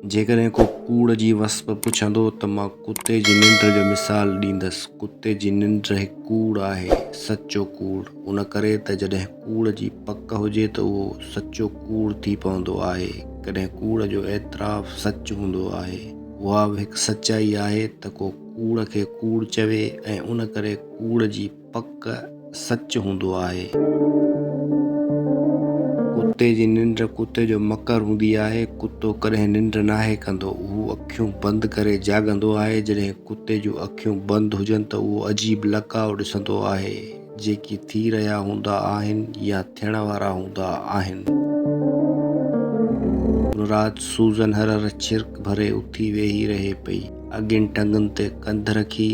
جيڪڏهن ڪو ڪوڙ جي وصف پڇندو ته مان ڪتي جي ننڊ جو مثال ڏيندس. ڪتي جي ننڊ هڪ ڪوڙ آهي، سچو ڪوڙ. ان ڪري ته جڏهن ڪوڙ جي پڪ هجي ته اهو سچو ڪوڙ ٿي پوندو آهي. ڪڏهن ڪوڙ جو اعتراف سچ هوندو آهي. اها به هڪ سچائي آهي ته ڪو ڪوڙ کي ڪوڙ چوي ۽ ان ڪري ڪوڙ جي. پڪ سچ هوندو آهي. ڪتي جي ننڊ ڪتي جو مڪر هوندي آهي. ڪتو ڪڏهن ننڊ ناهي ڪندو. اهو اکيون بند ڪري جاڳندو آهي. جڏهن ڪتي جون اکيون بند هجن ته اهو عجيب لقاء ڏسندو آهي، جيڪي ٿي رهيا هوندا آهن يا ٿيڻ وارا هوندا آهن. ان رات سوزن هر هر ڇرڪ ڀري اٿي ويهي رهي پئي. اڳين ٽنگن تي ڪنڌ رکي،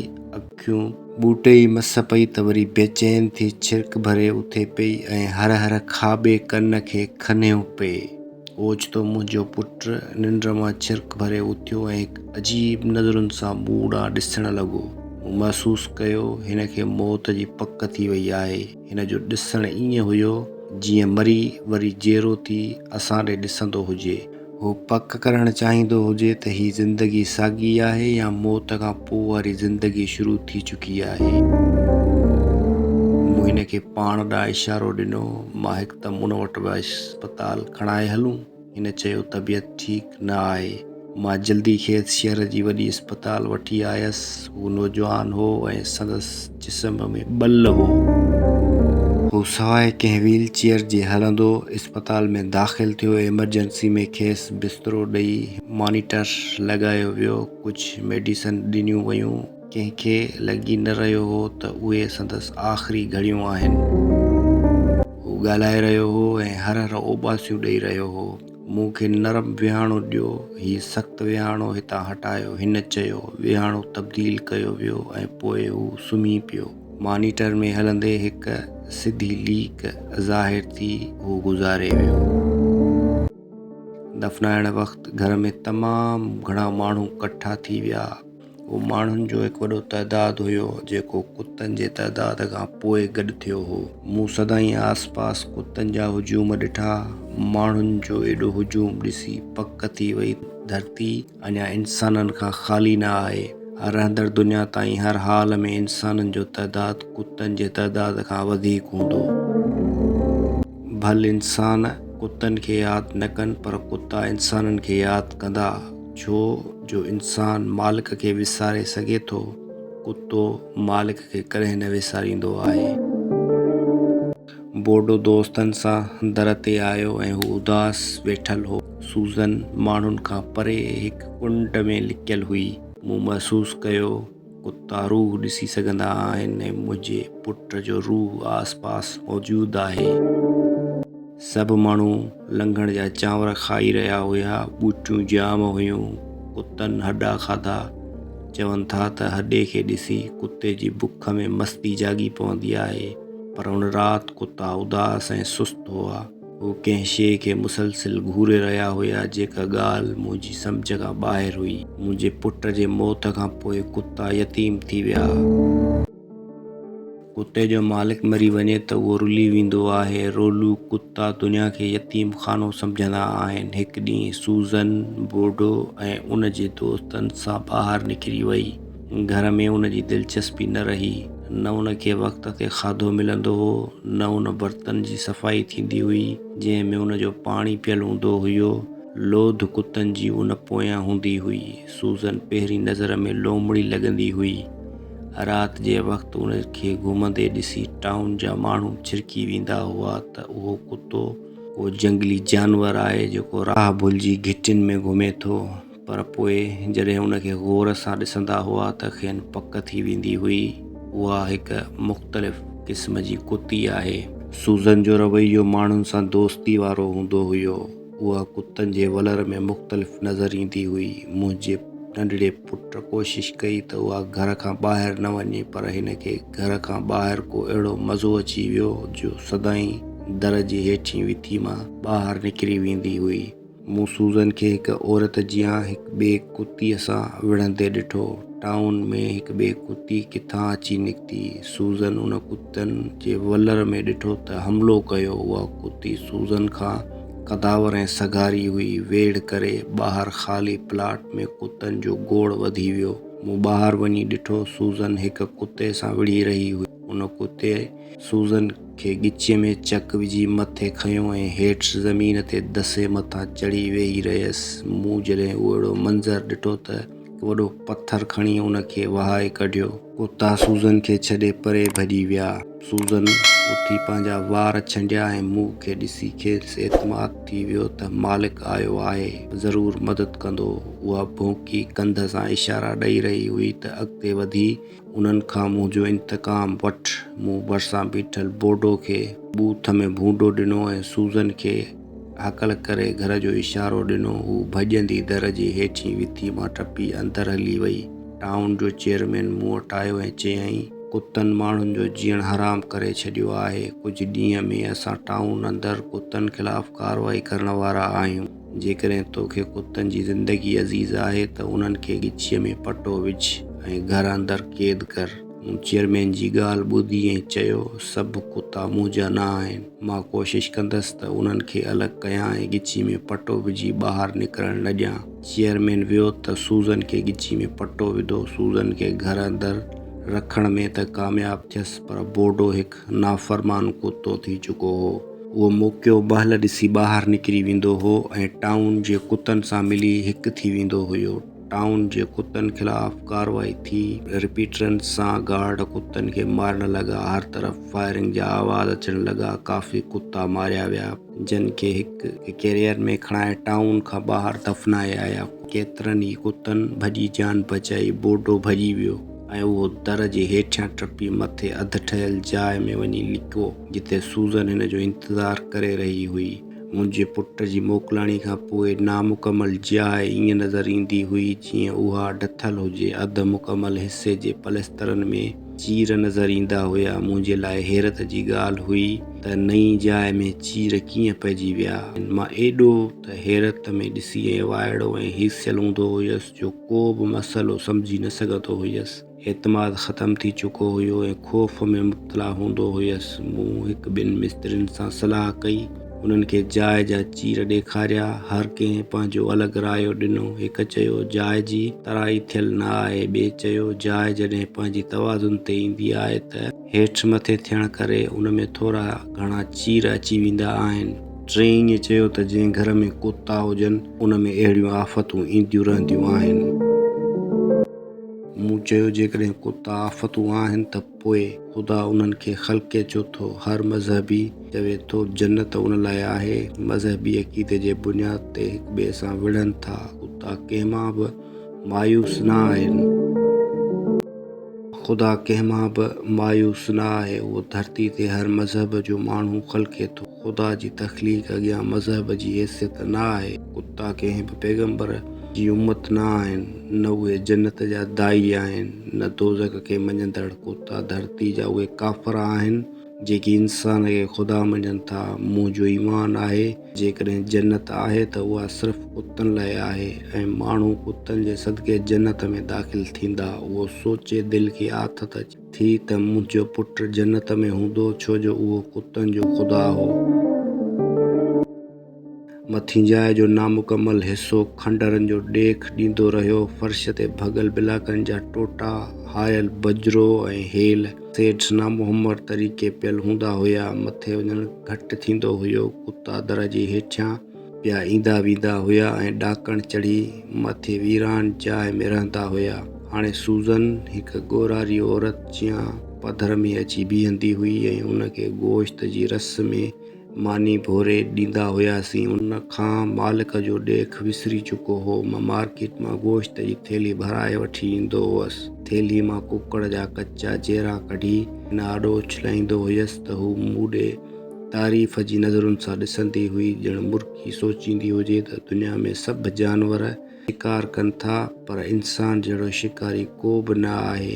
کيون ٻوٽي ئي مس پئي ته وري بيچين ٿي ڇرڪ ڀري اٿي پئي ۽ هر هر کاٻي ڪن کي کنيو پئي. اوچتو منهنجو پٽ ننڊ مان ڇرڪ ڀري اٿيو ۽ هڪ عجيب نظرن سان مون ڏانهن ڏسڻ لڳو. مون محسوس ڪيو هن کي موت جي پڪ ٿي وئي آهي. هن جو ڏسڻ ائين هيو جيئن مري وري جيئرو ٿي اسان ڏي ڏسندو هجي. هو پڪ ڪرڻ چاهيندو هجي ته هي زندگي ساڳي آهي يا موت کان پوء واري زندگي شروع ٿي چڪي آهي. مون هن کي پاڻ ڏانهن اشارو ڏنو. مان هڪدم ان وٽ ويس. اسپتال کڻائي هلون. هن چيو طبيعت ٺيڪ نه آهي. مان جلدي کيس شهر جي وڏي اسپتال وٺي آيس. هو نوجوان هو ۽ سندس جسم ۾ ٻل هو. هو سواء ڪنهن ويل چيئر جي هلندو اسپتال ۾ داخل ٿيو. ايمرجنسي ۾ کيس بسترو ڏئي مانيٽر لڳايو ويو. ڪجهه ميڊيسن ڏنيون ويون. ڪنهن کي لڳي نه رهيو هو ته اهي سندس آخري گهڙيون آهن. هو ڳالهائي رهيو هو ۽ هر هر اوٻاسيون ڏئي رهيو هو. مون کي نرم ويهاڻو ڏيو. هي سخت ويهاڻو هتان هٽايو. هن چيو. ويهاڻو تبديل ڪيو ويو ۽ پوء هو سمهي پيو. مانيٽر ۾ هلندي هڪ سڌي ليڪ ظاهر ٿي هو گذاري ويو. دفنائڻ وقت گهر ۾ تمام گهڻا ماڻهو ڪٺا ٿي ويا. اهو ماڻهن جو هڪ وڏو تعداد هيو جيڪو ڪتن جي تعداد کان پوء گڏ ٿيو هو. مون سدائين آس پاس ڪتن جا هجوم ڏٺا. ماڻهن جو ايڏو هجوم ڏسي پڪ ٿي وئي ته ڌرتي اڃا انسانن کان خالي نه آهي. رهندڙ دنيا تائين هر حال ۾ انسانن جو تعداد ڪتن جي تعداد کان وڌيڪ هوندو. ڀل انسان ڪتن کي ياد نه ڪن پر ڪتا انسانن کي ياد ڪندا. ڇو جو انسان مالڪ کي وساري سگهي ٿو، ڪتو مالڪ کي ڪڏهن نه وساريندو آهي. بورڊو دوستن سان در تي آيو ۽ هو اداس ويٺل هو. سوزن ماڻهن کان پري هڪ ڪنڊ ۾ لڪيل هئي. مون محسوس ڪيو. ڪتا روح ڏسي سگهندا آهن ۽ منهنجي پٽ جو روح آس پاس موجود آهي. سڀ ماڻهو لنگهڻ جا چانور کائي رهيا هيا. ٻوٽيون جام هيون. ڪتن هڏا کاڌا. چون ٿا ته هڏي کي ڏسي ڪتي جي بک ۾ مستي جاڳي پوندي آهي. پر ان رات ڪتا اداس ۽ سست هئا. هو ڪنهن شيء کي مسلسل گهوري رهيا هيا، جيڪا ڳالهه منهنجي سمجهه کان ٻاهر هئي. منهنجي پٽ جي موت کان پوء ڪتا يتيم ٿي ويا. ڪتي جو مالڪ مري وڃي ته اهو رلي ويندو آهي. رولو ڪتا دنيا کي يتيم خانو سمجهندا آهن. هڪ ڏينهن سوزن بورڊو ۽ ان جي دوستن سان ٻاهر نڪري وئي. گهر ۾ ان جي دلچسپي نه رهي، نه ان کي وقت تي کاڌو ملندو هو، نه ان برتن جي صفائي ٿيندي هئي، جنهن ۾ ان جو پاڻي پيل هوندو هيو. لوڌ ڪتن جي ان پويان هوندي هئي. سوزن پهرين نظر ۾ لومڙي لڳندي هئي. رات جي وقت ان کي گهمندي ڏسي ٽائون جا ماڻهو ڇرڪي ويندا هئا ته اهو ڪتو ڪو جهنگلي جانور آهي، جيڪو راهه ڀلجي گهٽين ۾ گهمي ٿو. پر پوء جڏهن ان کي غور سان ڏسندا هئا ته کين پڪ ٿي ويندي هئي اها هڪ مختلف قسم جي ڪتي آهي. سوزن جو رويو ماڻهن سان دوستي وارو هوندو هيو. اها ڪتن جي ولر ۾ مختلف نظر ايندي هئي. منهنجي ننڍڙي پٽ ڪوشش ڪئي ته اها گهر کان ٻاهر نه وڃي پر هن کي گهر کان ٻاهر ڪو اهڙو مزو اچي ويو جو سدائين در جي هيٺين وٿي مان ٻاهر نڪري ويندي هئي. مون سوزن کي هڪ عورت جيان هڪ ٻئي ڪتيء سان وڙهندي ڏٺو. ٽائون ۾ هڪ ٻئي ڪتي ڪٿان اچي نڪتي. سوزن ان ڪتن جي ولر ۾ ڏٺو ته حملو ڪيو. اها ڪتي سوزن کان قداور ۽ سگهاري هئي. ويڙهه ڪري ٻاهر خالي پلاٽ ۾ ڪتن جو گوڙ وڌي ويو. مون ٻاهر وڃي ڏٺو سوزن هڪ ڪتي سان وڙهي رهي هئي. ان ڪتي سوزن کي ڳچيء ۾ چڪ وجهي مٿي کنيو ۽ هيٺ زمين تي دسي مٿان چڙهي ويهي رهيس. مون جڏهن اهڙو منظر ڏٺو ته هڪ وڏو پٿر کڻي ان کي وهائي ڪڍيو. ڪتا سوزن کي ڇڏي پري ڀڄي ويا. سوزن اٿي پنهنجا وار ڇنڊيا ۽ مون کي ڏسي کيس اعتماد ٿي ويو ته مالڪ آيو آهي، ضرور مدد ڪندو. اها ڀونڪي ڪنڌ سان اشارا ڏئي رهي هئي ته اڳتي وڌي. انهن کان منهنجو انتقام وٺ. مون ڀرسان بيٺل بورڊو کي بوٿ ۾ ڀونڊو ڏنو ۽ سوزن کي هاڪل ڪري گهر جو اشارو ڏنو. هوء ڀڄندي در جي هيٺين وٿي مان ٽپي اندر هلي وئي. ٽائون جو چيئرمين مون وٽ آيو ۽ چيائين، ڪتن ماڻهن جو جيئڻ حرام ڪري ڇڏيو آهي. ڪجهه ڏينهن ۾ اسان ٽائون اندر ڪتن خلاف ڪارروائي ڪرڻ وارا آهيون. جيڪڏهن تو کي ڪتن جي زندگي عزيز آهي ته انهن کي ڳچيء ۾ پٽو وجهه ۽ گهر اندر قيد ڪر. مون چيئرمين جي ڳالهه ٻڌي ۽ چيو، سڀ ڪتا مون جا نه آهن. مان ڪوشش ڪندس ته انهن کي الڳ ڪيان ۽ ڳچي ۾ پٽو وجهي ٻاهر نڪرڻ نه ڏيان. چيئرمين ويو ته سوزن کي ڳچي ۾ پٽو وڌو. سوزن کي گهر اندر رکڻ ۾ ته ڪامياب ٿيس پر بورڊو هڪ نافرمان ڪتو ٿي چڪو هو. اهو موقعو بهل ڏسي ٻاهر نڪري ويندو هو ۽ ٽائون جي ڪتن سان ملي هڪ ٿي ويندو هيو. ٽائون جي ڪتن خلاف ڪارروائي ٿي. رپيٽرن سان گارڊ ڪتن کي مارڻ لڳا. هر طرف فائرنگ جا آواز اچڻ لڳا. ڪافي ڪتا ماريا ويا. جن کي هڪ ڪيريئر ۾ کڻائي ٽائون کان ٻاهر دفنائي آيا. ڪيترن ئي ڪتن ڀڄي جان بچائي بورڊو ڀڄي ويو ۽ اهو در جي هيٺيان ٽپي مٿي اڌ ٺهيل جاء ۾ وڃي لڪو جتي سوزن هن جو انتظار ڪري رهي هئي. منهنجي پٽ جي موڪلاڻي کان پوء نامڪمل جاء ائين نظر ايندي هئي جيئن اها ڊٿل هجي، اڌ مڪمل حصي جي پليسترن ۾، چير نظر ايندا هيا. منهنجي لاء حيرت جي ڳالهه هئي ته نئين جاء ۾ چير ڪيئن پئجي ويا. مان ايڏو ته حيرت ۾ ڏسي ۽ وائڙو ۽ هيسيل هوندو هيس جو ڪو به مسئلو سمجهي نه سگهندو هيس. اعتماد ختم ٿي چڪو هيو ۽ خوف ۾ مبتلا هوندو هيس. مون هڪ ٻن مسترين سان صلاح ڪئي. انهن کي جاء جا چير ڏيکاريا. هر ڪنهن پنهنجو الڳ رايو ڏنو. هڪ چيو، جاء جي ترائي ٿيل نه آهي. ٻئي چيو، جاء جڏهن پنهنجي توازن تي ايندي آهي ته. هيٺ مٿي ٿيڻ ڪري ان ۾ ٿورا گهڻا چير اچي ويندا آهن. ٽئين ائين چيو ته جنهن گهر ۾ ڪتا هجن، ان ۾ اهڙيون آفتون اينديون رهنديون آهن. مون چيو، جيڪڏهن ڪتا آفتون آهن ته پوء خدا انهن کي خلقي ڇو ٿو؟ هر مذهبي چوي ٿو جنت ان لاء آهي. مذهبي عقيدي جي بنياد تي هڪ ٻئي سان وڙهن ٿا. خدا ڪنهن مان به مايوس نه آهن. خدا ڪنهن مان به مايوس نه آهي. اهو ڌرتي تي هر مذهب جو ماڻهو خلقي ٿو. خدا جي تخليق اڳيان مذهب جي حيثيت نه آهي. ڪتا ڪنهن به پيغمبر جي امت نه آهن، نه اهي جنت جا داعي آهن، نه دوزخ کي مڃيندڙ. ڪتا ڌرتي جا اهي ڪافر آهن، جيڪي انسان کي خدا مڃن ٿا. منهنجو ايمان آهي، جيڪڏهن جنت آهي ته اها صرف ڪتن لاء آهي ۽ ماڻهو ڪتن جي صدقي جنت ۾ داخل ٿيندا. اهو سوچي دل کي آٿت اچي. ٿي ته منهنجو پٽ جنت ۾ هوندو ڇو جو اهو ڪتن جو خدا هو. مٿين جاء جو نامڪمل حصو کنڊرن جو ڏيک ڏيندو رهيو. فرش تي ڀڳل بلاڪن جا ٽوٽا، هايل بجرو ۽ هيل سيٽس نامهمر طريقي پيل هوندا هيا. مٿي وڃڻ گهٽ ٿيندو هيو. ڪتا در جي هيٺيان. پيا ايندا ويندا هيا ۽ ڏاڪڻ چڙهي مٿي ويران جاء ۾ رهندا هيا. هاڻي سوزن هڪ ڳورهاري عورت جيان پڌر ۾ اچي بيهندي هئي ۽ ان کي گوشت جي رس ۾ ماني ڀوري ڏيندا هياسين. ان کان مالڪ جو ڏيک وسري چڪو هو. مان مارڪيٽ مان گوشت جي ٿيلهي ڀرائي وٺي ايندو هوس. ٿيلهي مان ڪڪڙ جا ڪچا جيرا ڪڍي هن آڏو اڇلائيندو هيس ته هو مون ڏي تعريف جي نظرن سان ڏسندي هئي ڄڻ مرڪي سوچيندي هجي ته دنيا ۾ سڀ جانور شڪار ڪن ٿا پر انسان جهڙو شڪاري ڪو به نه آهي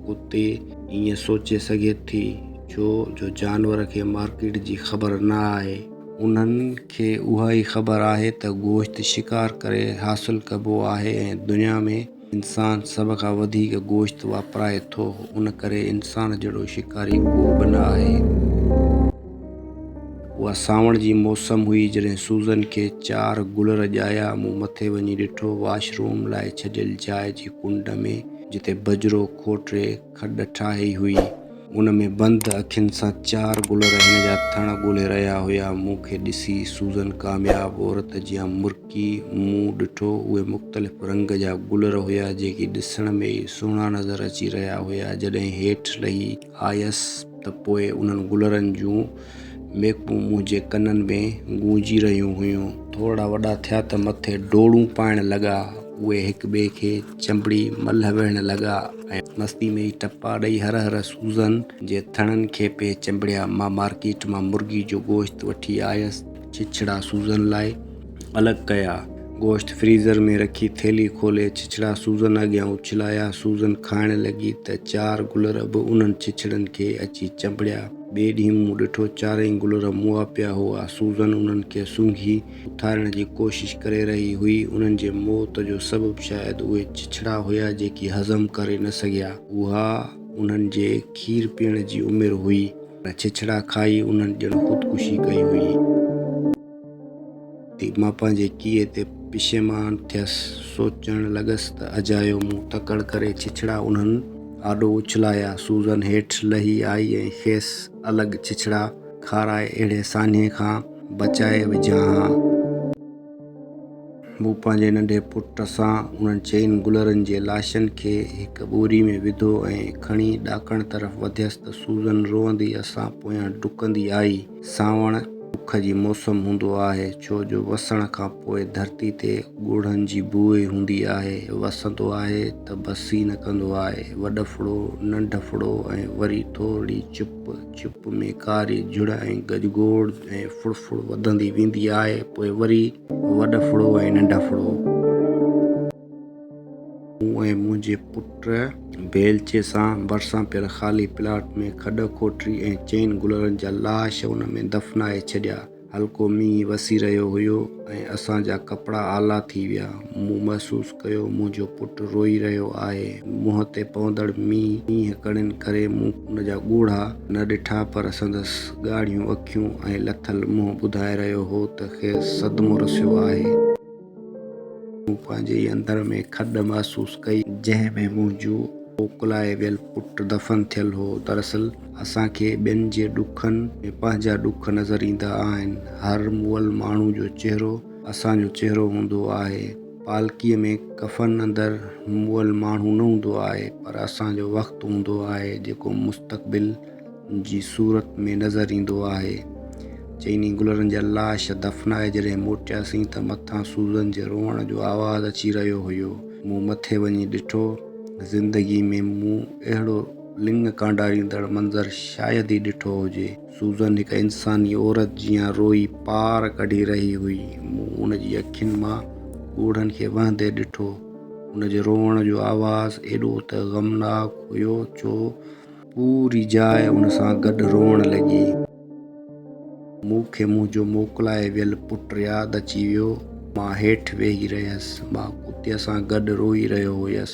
ڪتي ائين سوچي سگهي ٿي ڇو جو جانور کي مارڪيٽ جي خبر نه آهي انهن کي اها ئي خبر آهي ته گوشت شڪار ڪري حاصل ڪبو آهي ۽ دنيا ۾ انسان سڀ کان وڌيڪ گوشت واپرائي ٿو، ان ڪري انسان جهڙو شڪاري ڪو به نه آهي. اها سانوڻ جي موسم هئي، جڏهن سوزن کي چار گل رڄايا. مون مٿي وڃي ڏٺو، واش روم لاء ڇڏيل جاء جي ڪنڊ ۾، جتي بجرو، کوٽري، کڏ ٺاهي هئي، ان ۾ بند اکين سان چار گل رهن جا ٿڻ ڳولي رهيا هيا. مون کي ڏسي سوزن ڪامياب عورت جيان مرڪي مون ڏٺو. اهي مختلف رنگ جا گلر هيا، جيڪي ڏسڻ ۾ ئي سهڻا نظر اچي رهيا هيا. جڏهن هيٺ لهي آيس ته پوء انهن گلرن جون ميڪون منهنجي ڪنن ۾ گونجي رهيون هيون. ٿورڙا وڏا ٿيا ته مٿي ڊوڙون پائڻ لڳا. اهي هڪ ٻئي کي چنبڙي ملهه ويهڻ لڳا ۽ مستي ۾ ئي ٽپا ڏئي هر هر سوزن جي ٿڻن کي پئي چنبڙيا. مان مارڪيٽ مان مرغي جو گوشت وٺي آيس. ڇڇڙا سوزن لاء الڳ ڪيا. گوشت فريزر ۾ رکي ٿيلهي کولي ڇڇڙا سوزن اڳيان اڇلايا. سوزن کائڻ لڳي ته چار گلر به انهن ڇڇڙن کي اچي چنبڙيا. ٻئي ڏينهن مون ڏٺو چارئي گل رموها پيا هئا. سوزن انهن کي سونگهي اٿارڻ جي ڪوشش ڪري رهي هئي. انهن جي موت جو سبب شايد اهي چچڙا هيا جيڪي هضم ڪري نه سگهيا. اها انهن جي کير پيئڻ جي عمر هئي. پر چچڙا کائي انهن ڄڻ خودڪشي ڪئي هئي. ٿي، مان پنهنجي ڪيء تي پشيمان ٿيس. سوچڻ لڳس ته اجايو مون تڪڙ ڪري ڇڇڙا انهن آڏو اڇلايا. سوزن هيٺ لهي آئي ۽ کيس الڳ ڇڇڙا کارائي اهڙي ساڃهي کان بچائي وجهان ها. مون پنهنجي ننڍي پٽ سان انهن چئن گلرن جي لاشن کي هڪ ٻوري ۾ وڌو ۽ کڻي ڏاڪڻ طرف وڌيس ته سوزن روئندي اسان پويان ڊڪندي آئي. سانوڻ اک جي موسم هوندو آهي، ڇو جو وسڻ کان پوء ڌرتي تي ڳوڙهن جي بوء هوندي آهي. وسندو آهي ته بسي نه ڪندو آهي. وڏڦڙو، ننڍڦڙو ۽ وري ٿورڙي چپ، چپ ۾ ڪاري جھڙ ۽ گجگوڙ ۽ ڦڙڦڙ وڌندي ويندي آهي، پوء وري وڏڦڙو ۽ ننڍڦڙو. مون ۽ منهنجي پٽ بيلچي سان ڀرسان پيل خالي پلاٽ ۾ کڏ کوٽري ۽ چئن گلرن جا لاش ان ۾ دفنائي ڇڏيا. هلڪو مينهن وسي رهيو هيو ۽ اسان جا ڪپڙا آلا ٿي ويا. مون محسوس ڪيو منهنجو پٽ روئي رهيو آهي. منهن تي پوندڙ مينهن ڪڻين ڪري مون ان جا ڳوڙها نه ڏٺا پر سندس ڳاڙهيون اکيون ۽ لٿل منهن ٻڌائي رهيو هو ته کيس صدمو رسيو آهي. مون پنهنجي ئي اندر ۾ کڏ محسوس ڪئي. جنهن ۾ منهنجو موڪلائي ويل پٽ دفن ٿيل هو. دراصل اسان کي ٻين جي ڏکن ۾ پنهنجا ڏک نظر ايندا آهن. هر مئل ماڻهو جو چهرو اسان جو چهرو هوندو آهي. پالڪيء ۾ ڪفن اندر مئل ماڻهو نه هوندو آهي پر اسان جو وقت هوندو آهي جيڪو مستقبل جي صورت ۾ نظر ايندو آهي. چئني گلرن جا لاش دفنائي جڏهن موٽياسين ته مٿان سوزن جي روئڻ جو آواز اچي رهيو هيو. مون مٿي وڃي ڏٺو. زندگي ۾ مون اهڙو لڱ ڪانڊاريندڙ منظر شايد ئي ڏٺو هجي. سوزن هڪ انساني عورت جيان روئي پار ڪڍي رهي هئي. مون ان جي اکين مان ڳوڙهن کي وهندي ڏٺو. ان جي روئڻ جو آواز ايڏو ته غمناڪ هيو جو پوري جاء ان سان گڏ روئڻ لڳي. مون کي منهنجو موڪلائي ويل پٽ ياد اچي ويو. مان هيٺ ويهي رهيس. مان ڪتيء سان گڏ روئي رهيو هيس.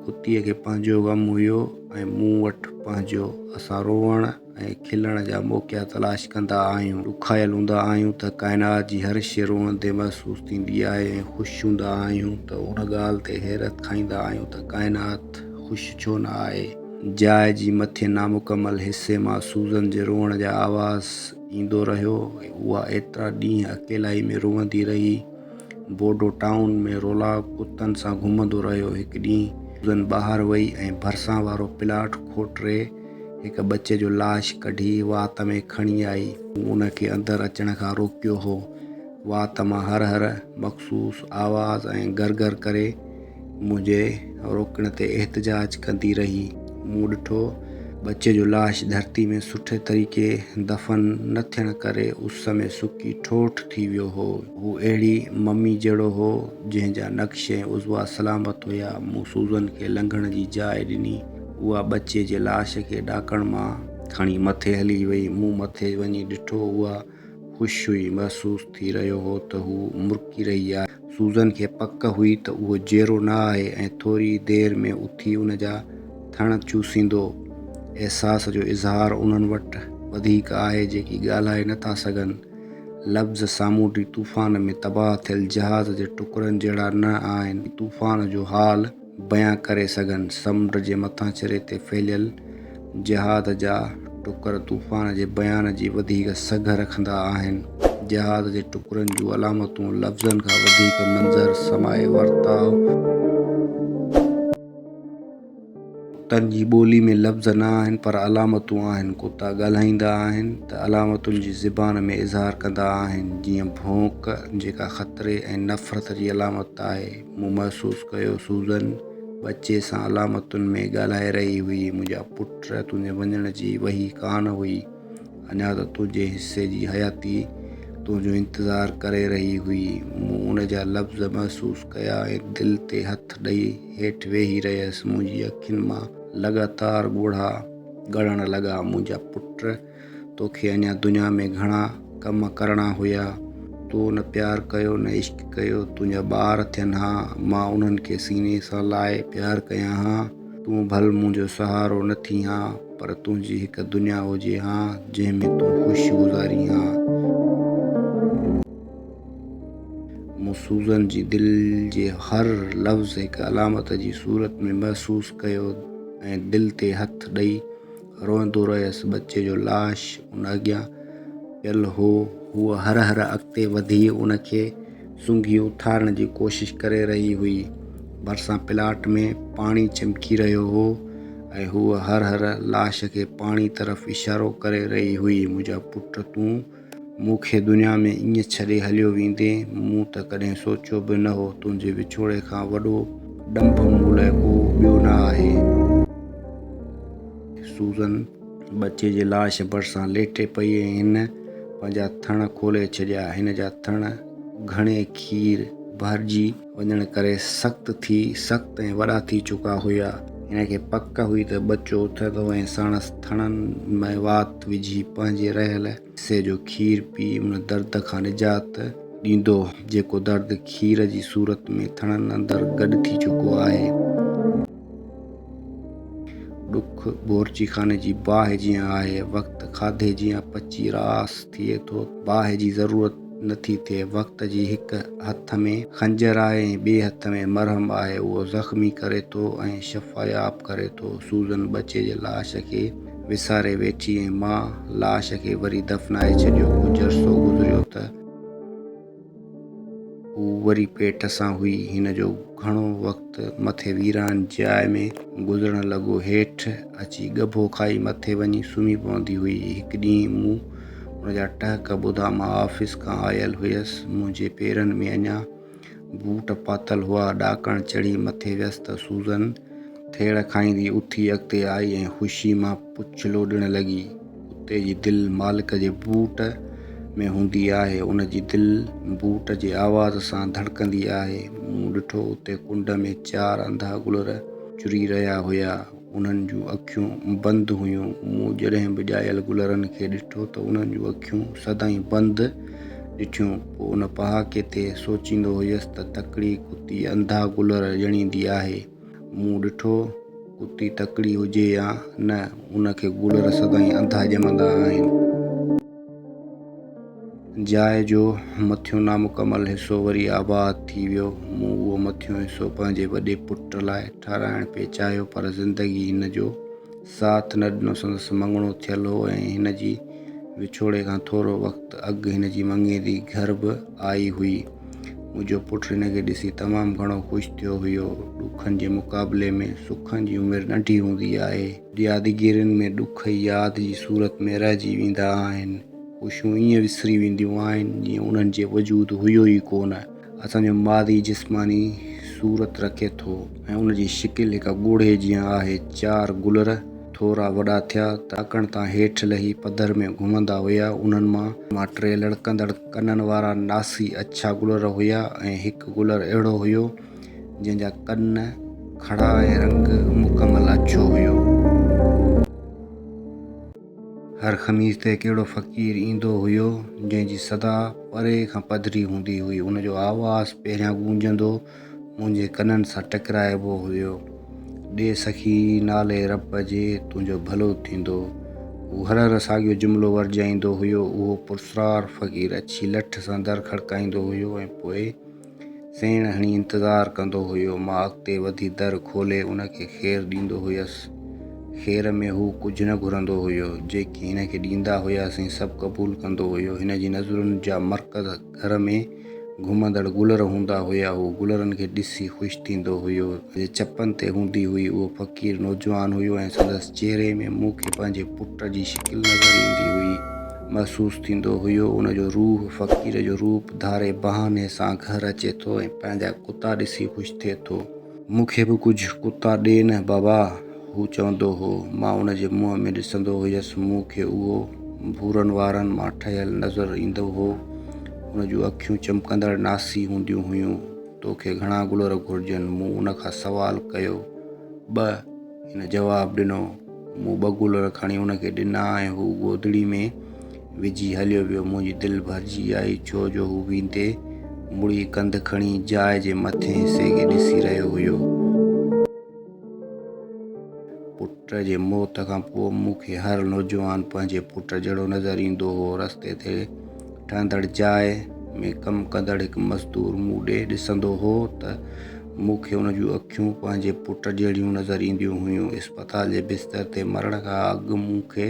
ڪتيء کي پنهنجو غم هيو ۽ مون وٽ پنهنجو. اسان روئڻ ۽ کلڻ جا موقعا تلاش ڪندا آهيون. ڏکايل هوندا آهيون ته ڪائنات جي هر شيء روئندي محسوس ٿيندي آهي ۽ خوش هوندا آهيون ته ان ڳالهه تي حيرت کائيندا آهيون ته ڪائنات خوش ڇو نه آهي. جاء جي مٿين نامڪمل حصي مان سوزن جي روئڻ جا آواز ايندو رهيو. اها ايترا ڏينهن اڪيلائي ۾ روئندي رهي. بورڊو ٽائون ۾ رولا ڪتن سان گهمندو رهيو. هڪ ڏينهن سوزن ٻاهر وئي ۽ ڀرسان وارو پلاٽ کوٽري هڪ ٻچي جو لاش ڪڍي وات ۾ کڻي آئي. مون ان کي اندر اچڻ کان روڪيو هو. وات مان هر هر مخصوص آواز ۽ گرگر ڪري. منهنجي روڪڻ تي احتجاج ڪندي رهي. مون ڏٺو ٻچي جو لاش ڌرتي ۾ سٺي طريقي دفن نه ٿيڻ ڪري اس ۾ سڪي ٺوٺ ٿي ويو هو. هو اهڙي ممي جهڙو هو، جنهن جا نقش ۽ عضوا سلامت هيا. مون سوزن کي لنگهڻ جي جاء ڏني. اها ٻچي جي لاش کي ڏاڪڻ مان کڻي مٿي هلي وئي. مون مٿي وڃي ڏٺو اها. خوش هئي. محسوس ٿي رهيو هو ته هو مرڪي رهي آهي. سوزن کي پڪ هئي ته اهو جيئرو نه آهي ۽ ٿوري ئي دير ۾ اٿي ان جا ٿڻ چوسيندو. احساس جو اظهار انهن وٽ وڌيڪ آهي جيڪي ڳالهائي نه ٿا سگهن. لفظ سامونڊي طوفان ۾ تباهه ٿيل جهاز جي ٽڪرن جهڙا نه آهن. طوفان جو حال. بيان ڪري سگهن. سمنڊ جي مٿانڇري تي ڦهليل جهاد جا ٽڪر طوفان جي بيان جي وڌيڪ سگهه رکندا آهن. جهاد جي ٽڪرن جون علامتون لفظن کان وڌيڪ منظر سماعي ورتاء. ڪتن جي ٻولي ۾ لفظ نه آهن پر علامتون آهن. ڪتا ڳالهائيندا آهن ته علامتن جي زبان ۾ اظهار ڪندا آهن. جيئن ڀونڪ جيڪا خطري ۽ نفرت جي علامت آهي. مون محسوس ڪيو سوزن ٻچي سان علامتن ۾ ڳالهائي رهي هئي، منهنجا پٽ تنهنجي وڃڻ جي وهي ڪانه هئي، اڃا ته تنهنجي حصي جي حياتي تنهنجو انتظار ڪري رهي هئي. مون ان جا لفظ محسوس ڪيا ۽ دل تي هٿ ڏئي هيٺ ويهي رهيس، منهنجي اکين مان لڳاتار ڳوڙها ڳڙڻ لڳا، منهنجا پٽ. توکي اڃا دنيا ۾ گهڻا ڪم ڪرڻا هيا. تو نه پيار ڪيو نه عشق ڪيو. تنهنجا ٻار ٿين ها. مان انهن کي سيني سان لائي پيار ڪيان ها. تون ڀل منهنجو سهارو نه ٿين ها پر تنهنجي هڪ دنيا هجي ها جنهن ۾ تون خوش گذارين ها. مون سوزن جي دل جي هر لفظ هڪ علامت جي صورت ۾ محسوس ڪيو ۽ دل تي هٿ ڏئي روئندو رهيس. ٻچي جو لاش ان اڳيان پيل هو. هوء هر هر اڳتي وڌي ان کي سونگهي اٿارڻ جي ڪوشش ڪري رهي هئي. ڀرسان پلاٽ ۾ پاڻي چمڪي رهيو هو ۽ هوء هر هر لاش کي پاڻي طرف اشارو ڪري رهي هئي، منهنجا پٽ تون مون کي دنيا ۾ ائين ڇڏي هليو ويندين، مون ته ڪڏهن سوچيو به نه هو، تنهنجي وڇوڙي کان وڏو ڏنڀ مون لاء ڪو ٻيو نه آهي. سوزن ٻچي جي لاش ڀرسان ليٽي پئي ۽ هن پنهنجا ٿڻ کولي ڇڏيا، هن جا ٿڻ گهڻي کير ڀرجي. وڃڻ ڪري سخت ٿي سخت ۽ وڏا ٿي چڪا هيا. هن کي پڪ هئي ته ٻچو اٿندو ۽ ساڻس ٿڻن ۾ وات وجهي پنهنجي رهيل حصي جو کير پي ان درد کان نجات ڏيندو، جيڪو درد کير جي صورت ۾ ٿڻن اندر گڏ ٿي چڪو آهي. ڏک بورچي خاني جي باهه جيان آهي، وقت کاڌي جيان پچي راس ٿئي ٿو، باهه جي ضرورت. نٿي ٿئي. وقت جي هڪ هٿ ۾ خنجر آهي ۽ ٻئي هٿ ۾ مرهم آهي. اهو زخمي ڪري ٿو ۽ شفاياب ڪري ٿو. سوزن ٻچي جي لاش کي وساري ويٺي ۽ ماء لاش کي وري دفنائي ڇڏيو. ڪجهه عرصو گذريو ته. هو وري پيٽ سان هئي. هن جو گهڻو وقت مٿي ويران جاء ۾ گذرڻ لڳو. هيٺ اچي ڳڀو کائي مٿي وڃي سمهي پوندي هئي. هڪ ڏينهن مون. ان جا ٽهڪ ٻڌا مان آفيس کان آيل هيس. منهنجي پيرن ۾ اڃا بوٽ پاتل هئا. ڏاڪڻ چڙهي مٿي ويس ته سوزن ٿيڙ کائيندي اٿي اڳتي آئي ۽ خوشي مان پڇلو ڏيڻ لڳي. ڪتي جي دل مالڪ جي بوٽ ۾ هوندي آهي. ان جي دل بوٽ جي آواز سان ڌڙڪندي آهي. مون ڏٺو اتي ڪنڊ ۾ چار انڌا گلر چري رهيا هيا. انهن جون اکيون بند هيون. مون جڏهن به ڄايل گلرن کي ڏٺو ته انهن جون اکيون سدائين بند ڏٺيون. پوء ان پهاڪي تي سوچيندو هيس ته تڪڙي ڪتي انڌا گلر ڄڻيندي آهي. مون ڏٺو، ڪتي تڪڙي هجي يا نه، ان کي گلر سدائين انڌا ڄمندا آهن. جاء جو مٿيون نامڪمل حصو وري آباد ٿي ويو. مون اهو مٿيون حصو پنهنجي وڏي پٽ لاء ٺهرائڻ پئي چاهيو پر زندگي هن جو ساٿ نه ڏنو. سندس مڱڻو ٿيل هو ۽ هن جي وڇوڙي کان ٿورو وقت اڳ هن جي مڱيري گهر به آئي هئي. منهنجو پٽ هن کي ڏسي تمام گهڻو خوش ٿيو هيو. ڏکن جي مقابلي ۾ سکن جي عمر ننڍي هوندي آهي. يادگيرين ۾ ڏک ئي ياد جي صورت ۾ رهجي ويندا آهن. خوشيون ائين وسري وينديون آهن جيئن انهن جي وجود هيو ئي ڪونه. اسان جو ماضي جسماني صورت رکي ٿو ۽ ان جي شڪل هڪ ڳوڙهي جيان آهي. چار گلر ٿورا وڏا ٿيا ته اڪڻ تان هيٺ لهي پڌر ۾ گهمندا هيا. انهن مان ٽي لڙڪندڙ ڪنن وارا ناسي اڇا گلر هيا ۽ هڪ گلر اهڙو هيو جنهن جا ڪن کڙا ۽ رنگ مڪمل اڇو هيو. هر خميس تي ڪهڙو فقير ايندو هيو، جنهن جي صدا پري کان پڌري هوندي هئي. ان جو آواز پهريان گونجندو منهنجي ڪنن سان ٽڪرائبو هيو، ڏي سخي نالي رب جي، تنهنجو ڀلو ٿيندو. هو هر هر ساڳيو جملو ورجائيندو هيو. اهو پرسرار فقير اڇي لٺ سان در کڙڪائيندو هيو ۽ پوء. سيڻ هڻي انتظار ڪندو هيو. مان اڳتي وڌي در کولي ان کي خير ڏيندو هيس. خير ۾ هو ڪجهه نه گهرندو هيو. جيڪي هن کي ڏيندا هياسين سڀ قبول ڪندو هيو. هن جي نظرن جا مرڪز گهر ۾ گهمندڙ گلر هوندا هيا. هو گلرن کي ڏسي خوش ٿيندو هيو. جي چپن تي هوندي هئي. اهو فقير نوجوان هيو ۽ سندس چهري ۾ مون کي پنهنجي پٽ جي شڪل نظر ايندي هئي. محسوس ٿيندو هيو ان جو روح فقير جو روپ ڌاري بهاني سان گهر اچي ٿو ۽ پنهنجا ڪتا ڏسي خوش ٿئي ٿو. مون کي به ڪجهه ڪتا ڏي نه بابا هو چوندو هو مان ان جي منهن ۾ ڏسندو هيس مون کي اهو ڀورن وارن مان ٺهيل نظر ايندو هو ان جون اکيون چمڪندڙ ناسي هونديون هيون توکي گهڻا گلر گهرجن مون ان کان سوال ڪيو ٻه هن جواب ڏنو. مون ٻه گولر کڻي هن کي ڏنا ۽ هو گودڙي ۾ وجهي هليو ويو. منهنجي دل ڀرجي آئي ڇو جو هو ويندي مڙي ڪنڌ کڻي جاء جي مٿين حصي کي ڏسي رهيو هيو. پٽ جي موت کان پوء مون کي هر نوجوان پنهنجي پٽ جهڙو نظر ايندو هو. رستي تي ٺهندڙ جاء ۾ ڪم ڪندڙ هڪ مزدور مون ڏي ڏسندو هو ته مون کي ان جون اکيون پنهنجي پٽ جهڙيون نظر اينديون هيون. اسپتال جي بستر تي مرڻ کان اڳ مون کي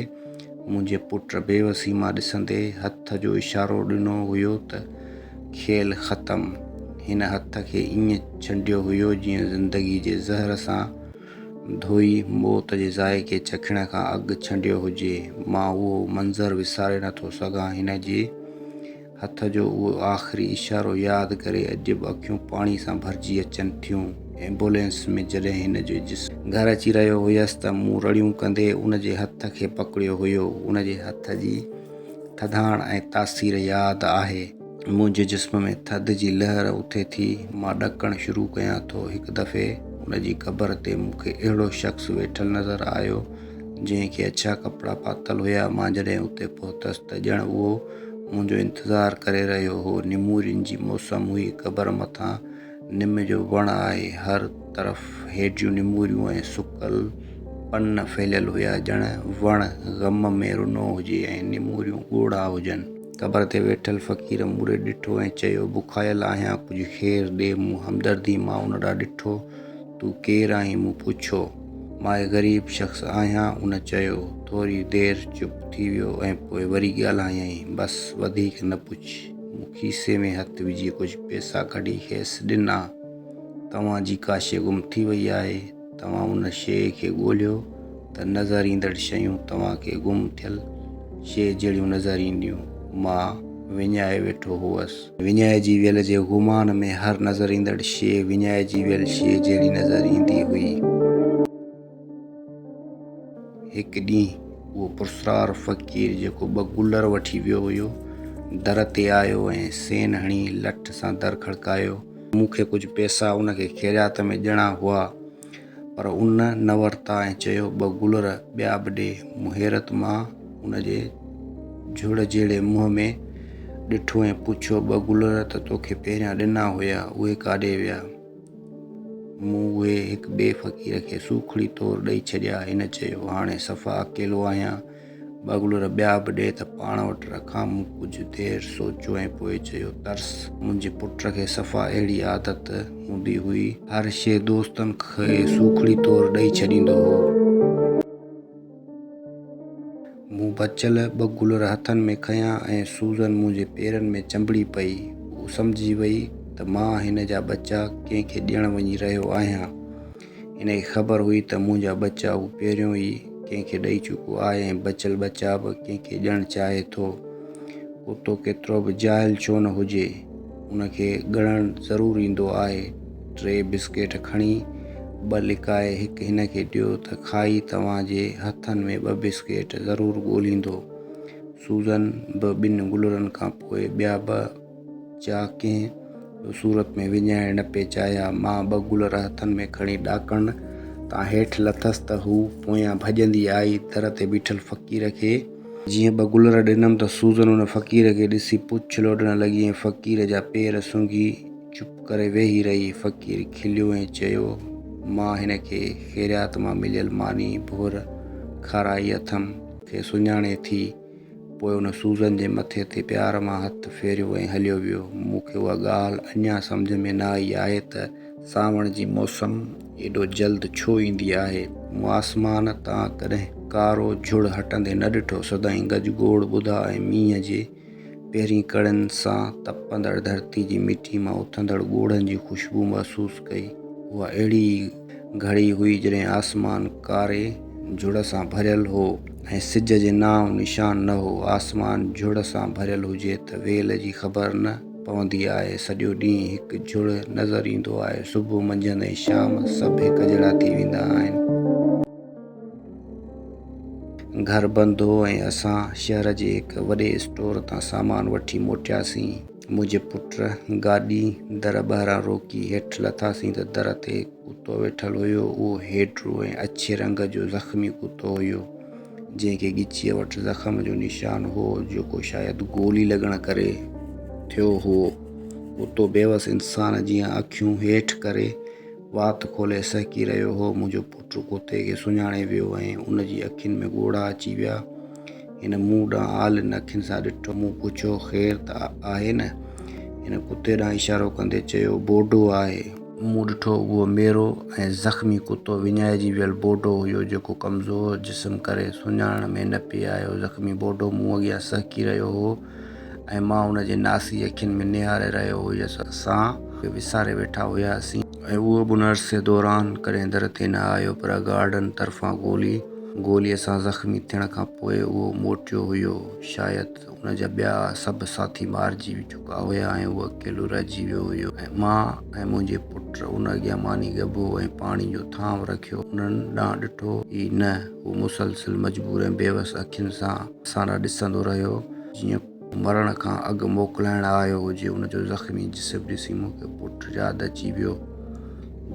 منهنجي پٽ بيوسي مان ڏسندي هٿ جو اشارو ڏنو هيو ته کيل ختم. هن هٿ کي ائين ڇنڊيو هيو جيئن زندگي جي زهر سان ڌوئي موت جي ذائقي چکڻ کان اڳ ڇنڊيو هجي. مان اهو منظر وساري نٿو سگهان. هن جي هٿ جو اهو آخري اشارو ياد ڪري اڄ به اکيون پاڻي سان ڀرجي اچن ٿيون. ايمبولينس ۾ جڏهن هن جو جسم. گهر اچي رهيو هيس ته مون رڙيون ڪندي ان جي هٿ کي پڪڙيو هيو. ان جي هٿ جي ٿڌاڻ ۽ تاثير ياد آهي. منهنجي جسم ۾ ٿڌ جي لهر اٿي ٿي، مان ڏڪڻ شروع ڪيان ٿو، هڪ دفعي ان جي قبر تي مون کي اهڙو شخص ويٺل نظر آيو، جنهن کي اڇا ڪپڙا پاتل هيا، مان جڏهن اتي پهتس ته ڄڻ اهو منهنجو انتظار ڪري رهيو هو، نمورين جي موسم هئي، قبر مٿان نم جو وڻ آهي، هر طرف هيڊيون نموريون ۽ سڪل پن ڦهليل هيا، ڄڻ وڻ غم ۾ رنو هجي ۽ نموريون ڳوڙها هجن. قبر تي ويٺل فقير مون ڏي ڏٺو ۽ چيو، بکايل آهيان، ڪجهه کير ڏي. مون همدردي مان ان ڏانهن ڏٺو. تون ڪير آهين؟ مون پڇيو. مان هڪ غريب شخص آهيان، ان چيو. ٿوري دير چپ ٿي ويو ۽ پوء وري ڳالهايائين، بس، وڌيڪ نه پڇ. مون کيسي ۾ هٿ وجهي ڪجهه پئسا ڪڍي کيس ڏنا. توهان جي ڪاشي گم ٿي وئي آهي. توهان ان شيء کي ڳولهيو ته نظر ايندڙ شيون توهان کي گم ٿيل شيء جهڙيون نظر اينديون. مان وڃائي ويٺو هوس. وڃائجي ويل جي گمان ۾ هر نظر ايندڙ شيء وڃائجي ويل شيء جهڙي نظر ايندي هئي. هڪ ڏينهن اهو پرسرار فقير جيڪو ٻه گلر وٺي ويو هيو، در تي آيو ۽ سين هڻي لٺ سان در کڙڪايو. مون کي ڪجهه پئسا ان کي خيريات ۾ ڏيڻا هئا، پر ان نه ورتا ۽ چيو، ٻه گلر ٻيا به ڏي. مون حيرت مان ان جي جهڙ جهڙي منهن ۾ ڏٺو ۽ پڇيو، ٻه گلر ته توکي پهريان ڏنا هيا، اهي ڪاڏي ويا؟ مون اهي هڪ ٻئي فقير کي سوکڙي طور ڏئي ڇڏيا. هن چيو، هاڻي صفا اڪيلو آهيان. ٻاگلور ٻيا به ڏي ته پاڻ وٽ رکان. مون ڪجهه دير سوچيو ۽ پوء چيو، ترس! منهنجي پٽ کي صفا اهڙي عادت هوندي هئي. هر شيء دوستن کي سوکڙي طور ڏئي ڇڏيندو هو. مون بچيل ٻه گلر هٿن ۾ کنيا ۽ سوزن منهنجي پيرن ۾ چنبڙي پئي. هو سمجهي وئي ته مان هن جا ٻچا ڪنهن کي ڏيڻ وڃي رهيو آهيان. هن کي خبر هئي ته منهنجا ٻچا هو پهريون ئي ڪنهن کي ڏئي چڪو آهي ۽ بچيل ٻچا به ڪنهن کي ڏيڻ چاهي ٿو. ڪتو ڪيترو به جاهل ڇو نه هجي، ان کي ڳڻڻ ضرور ايندو آهي. ٽي بسڪيٽ کڻي، ٻه لڪائي هڪ هن کي ڏيو ته کائي توهان جي هٿن ۾ ٻه بسڪيٽ ضرور ڳوليندو. سوزن به ٻن گلرن کان پوء ٻيا ٻه جا ڪنهن به صورت ۾ وڃائڻ نه پئي چاهيا. مان ٻه گلر هٿن ۾ کڻي ڏاڪڻ تان هيٺ لٿس ته هوء پويان ڀڄندي آئي در تي بيٺل فقير کي. جيئن ٻه گلر ڏنم ته سوزن ان فقير کي ڏسي پڇ لوڏڻ لڳي ۽ فقير جا پير سونگهي چپ ڪري ويهي رهي. فقير کليو ۽ چيو، مان هن کي خيريات مان مليل ماني ڀور کارائي اٿم. کي سڃاڻين ٿي. پوء ان سوزن جي مٿي تي پيار مان هٿ ڦيريو ۽ هليو ويو. مون کي اها ڳالهه اڃا سمجهه ۾ نه آئي آهي ته سانوڻ جي موسم ايڏو جلد ڇو ايندي آهي. مون آسمان تان ڪڏهن ڪارو جهڙ هٽندي نه ڏٺو، سدائين گج گوڙ ٻڌا ۽ مينهن جي پهرين ڪڙين سان تپندڙ ڌرتي جي مٽي مان اٿندڙ ڳوڙهن جي خوشبو محسوس ڪئي. اها اهڙي ئي. گهڙي هئي جڏهن آسمان ڪاري جهڙ سان ڀريل هو ۽ سج جي نانء نشان نه هو. آسمان جهڙ سان ڀريل هجي ته ويل جي خبر نه پوندي آهي. سڄو ڏينهن هڪ جهڙ نظر ايندو آهي. صبح، منجهند ۽ شام سڀ هڪ جهڙا ٿي ويندا آهن. گهر بند هو ۽ اسان شهر جي هڪ وڏي اسٽور تان سامان وٺي موٽياسين. منهنجي پٽ گاڏي در ٻاهران روڪي هيٺ لٿاسين ته در تي ڪتو ويٺل هيو. اهو هيڊرو ۽ اڇي رنگ جو زخمي ڪتو هيو، جنهن کي ڳچيء وٽ زخم جو نشان هو، جيڪو شايد گولي لڳڻ ڪري ٿيو هئو. ڪتو بيوس انسان جيان اکيون هيٺ ڪري، وات کولي سهڪي رهيو هو. منهنجو پٽ ڪتي کي سڃاڻي ويو ۽ ان جي اکين ۾ ڳوڙها اچي ويا. هن مون ڏانهن آلين اکين سان ڏٺو. مون پڇيو، خير ته آهي نه؟ هن ڪتي ڏانهن اشارو ڪندي چيو، بوڊو آهي. مون ڏٺو اهو ميرو ۽ زخمي ڪتو وڃائجي ويل بوڊو هيو، جيڪو ڪمزور جسم ڪري سڃاڻڻ ۾ نه پئي آيو. زخمي بوڊو مون اڳيان سهڪي رهيو هو ۽ مان ان جي ناسي اکين ۾ نهاري رهيو هيس. اسان پاڻ کي وساري ويٺا هياسين. ۽ اهو به ان عرصي دوران ڪڏهن در تي نه آيو پر گارڊن طرفان گولي گوليء سان زخمي ٿيڻ کان پوء اهو موٽيو هيو. شايد ان جا ٻيا سڀ ساٿي مارجي چڪا هيا ۽ اهو اڪيلو رهجي ويو هيو ۽ مان ۽ منهنجي پٽ ان اڳيان ماني ڳڀو ۽ پاڻي جو ٿانو رکيو انهن ڏانهن ڏٺو ئي نه. هو مسلسل مجبور ۽ بيوس اکين سان اسان ڏانهن ڏسندو رهيو جيئن مرڻ کان اڳ موڪلائڻ آيو هجي، ان جو زخمي جسم ڏسي مون کي پٽ ياد اچي ويو،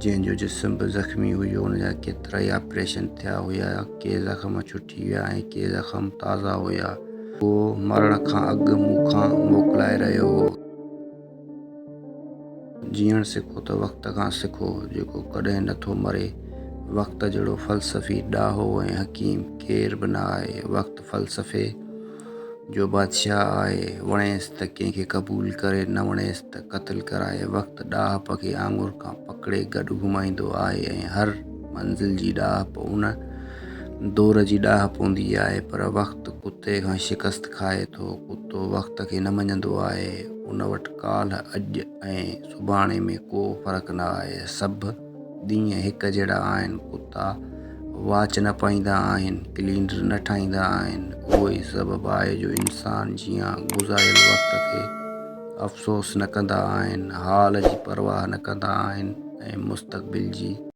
جنهن جو جسم به زخمي هيو، ان جا ڪيترائي آپريشن ٿيا هيا، ڪي زخم ڇٽي ويا ۽ ڪي زخم تازا هيا، هو مرڻ کان اڳ مون کان موڪلائي رهيو هو. جيئڻ سکو ته وقت کان سکو، جيڪو ڪڏهن نه ٿو مري. وقت جهڙو فلسفي، ڏاهو ۽ حڪيم ڪير به نه آهي. وقت فلسفي جو بادشاهه آهي. وڻيس ته ڪنهن کي قبول ڪري، نه وڻيس ته قتل ڪرائي. وقت ڏاهپ کي آڱر کان پڪڙي گڏ گهمائيندو آهي ۽ هر منزل جي ڏاهپ ان دور جي ڏاهپ هوندي آهي. پر وقت ڪتي کان شڪست کائي ٿو. ڪتو وقت کي نه مڃيندو آهي. ان وٽ ڪالهه، اڄ ۽ سڀاڻي ۾ ڪو فرق نه آهي. سڀ ڏينهن هڪ جهڙا آهن. ڪتا واچ نه پائيندا آهن، ڪلينڊر نه ٺاهيندا آهن. اهو ئي سبب آهي جو انسان جيان گذاريل وقت کي افسوس نه ڪندا آهن، حال جي پرواهه نه ڪندا آهن ۽ مستقبل جي.